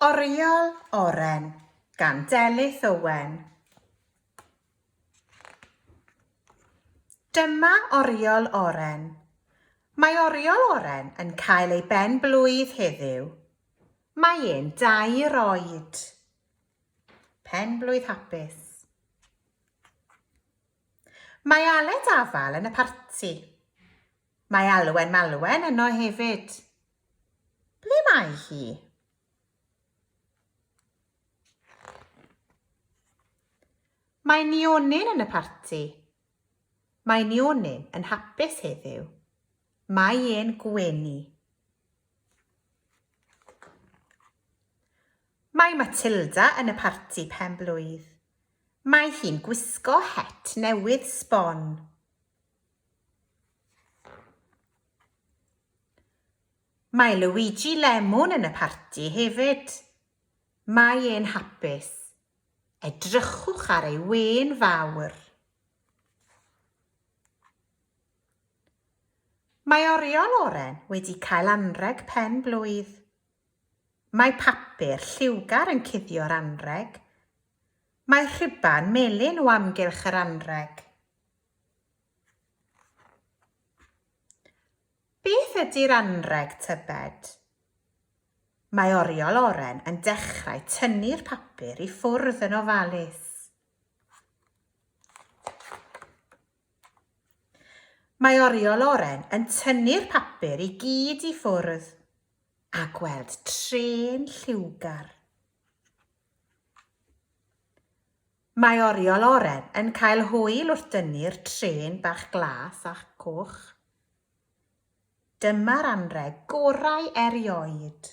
Oriel Oren gan Delyth Owen. Dyma Oriel Oren. Mae Oriel Oren yn cael ei ben blwydd heddiw. Mae e'n dair oed. Pen blwydd hapus. Mae Aled Afal yn y parti. Mae Alwen Malwen yno hefyd. Ble mae hi? Mae Nionyn yn y parti. Mae Nionyn yn hapus heddiw. Mae e'n gwenu. Mae Matilda yn y parti pen blwydd. Mae hi'n gwisgo het newydd sbon. Mae Luigi Lemon yn y parti hefyd. Mae e'n hapus. Edrychwch ar ei wên fawr. Mae oriol oren wedi cael anrheg pen blwydd. Mae papur lliwgar yn cuddio'r anrheg. Mae rhuban melyn o amgylch yr anrheg. Beth ydy'r anrheg tybed? Mae oriol oren yn dechrau tynnu'r papur i ffwrdd yn ofalus. Mae oriol oren yn tynnu'r papur i gyd i ffwrdd a gweld trên lliwgar. Mae oriel oren yn cael hwyl wrth dynnu'r trên bach glas a coch. Dyma'r anrheg gorau erioed!